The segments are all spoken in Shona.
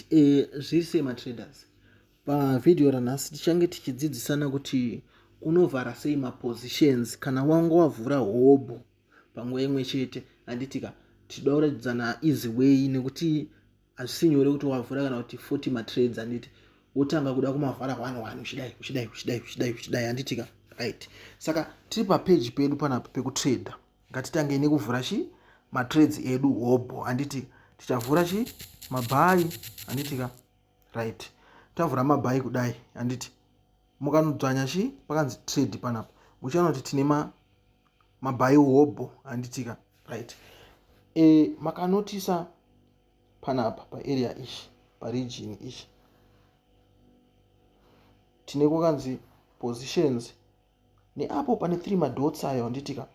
Eh, zviri sei matraders pavhidhiyo ranhasi tichange tichidzidzisana kuti unovhara sei mapositions kana wanga wavhura hobho panguva imwe chete handitika tichida kuratidzana easy way nekuti hazvisi nyore kuti wavhura kana kuti 40 matrades handiti wotanga kuda kumavhara one one uchidai uchidai uchidai uchidai uchidai handitika right saka tiri papeji pedu panapa pekutrader ngatitangei nekuvhura chi matrades edu hobho handiti tichavhura chi mabhayi handiti ka right tavhura mabhayi kudai handiti mukanodzvanya chi pakanzi trade panapa muchiona kuti tine mabhayi hobho handiti ka right e, makanotisa panapa paarea ichi paregion ichi tine kwakanzi positions neapo pane three madots ayo anditika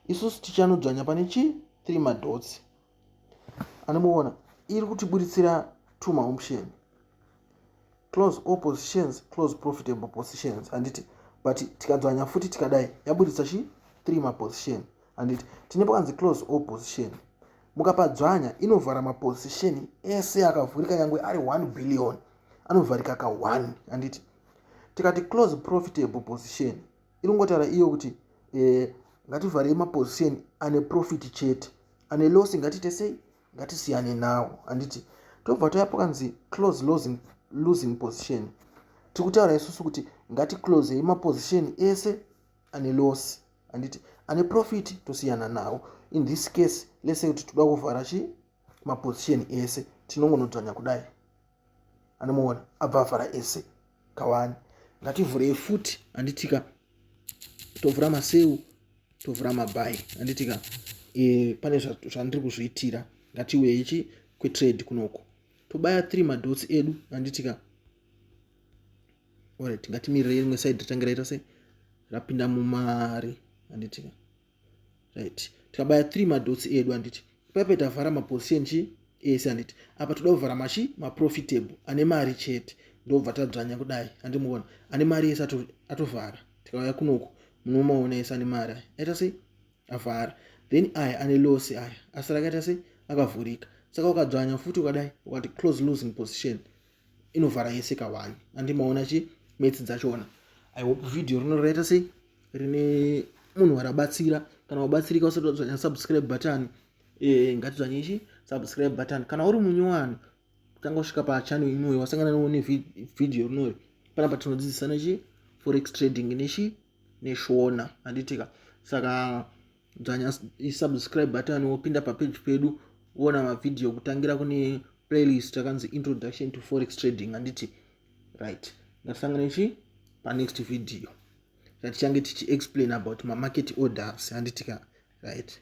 isusu tichanodzvanya pane chii three madots anomuona iri kutiburitsira two maoption close all positions close profitable positions handiti but tikadzvanya futi tikadai yaburitsa chi three maposition handiti tine pakanzi close all position mukapadzvanya inovhara maposition ese akavhurika nyangwe ari one billion anovharika ka one handiti tikati close profitable position inongotaura iyo kuti eh, ngativharei maposition ane profit chete ane loss ngatiite sei ngatisiyane nawo handiti tobva toya pakanzi close losing, losing position tiri kutaura isusu kuti ngati close ye maposition ese ane loss handiti ane profit tosiyana nawo in this case lese kuti toda kuvhara chi maposition ese tinongonodzvanya kudai anomuona abva avhara ese kawani ngativhurei futi handitika tovhura maseu tovhura mabhayi handitika e, pane zvandiri kuzviitira ngatiuye ichi kwetrade kunoko tobaya three madotsi edu handitika orit ngatimirire rimwe side ritangiraita se rapinda mumari handitika right tikabaya three madotsi edu handiti ipape tavhara maposition chii ese handiti apa toda kuvhara machi maprofitable ane mari chete ndobva tadzvanya kudai handimuona ane mari ese atovhara tikauya kunoku munomaona ese ane mari aya aita sei avhara then aya ane losi aya asara akaita sei akavhurika saka ukadzvanya futi ukadai ukati close losing position inovhara yese ka one andi maona chi metsi dzachona i hope video rino rinoita sei rine munhu warabatsira kana wabatsirika usati wadzvanya subscribe button eh ngatidzvanye chi subscribe button kana uri munyowani tanga usvika pachannel inoyo wasangana nawo ne video rinoyo panapa tinodzidzisana chi forex trading nechi neshona handitika saka dzvanya subscribe button wopinda papeji pedu woona mavhidhiyo kutangira kune playlist takanzi introduction to forex trading handiti right ndasangana ichi panext video tatichange tichiexplain about mamarket orders handitika right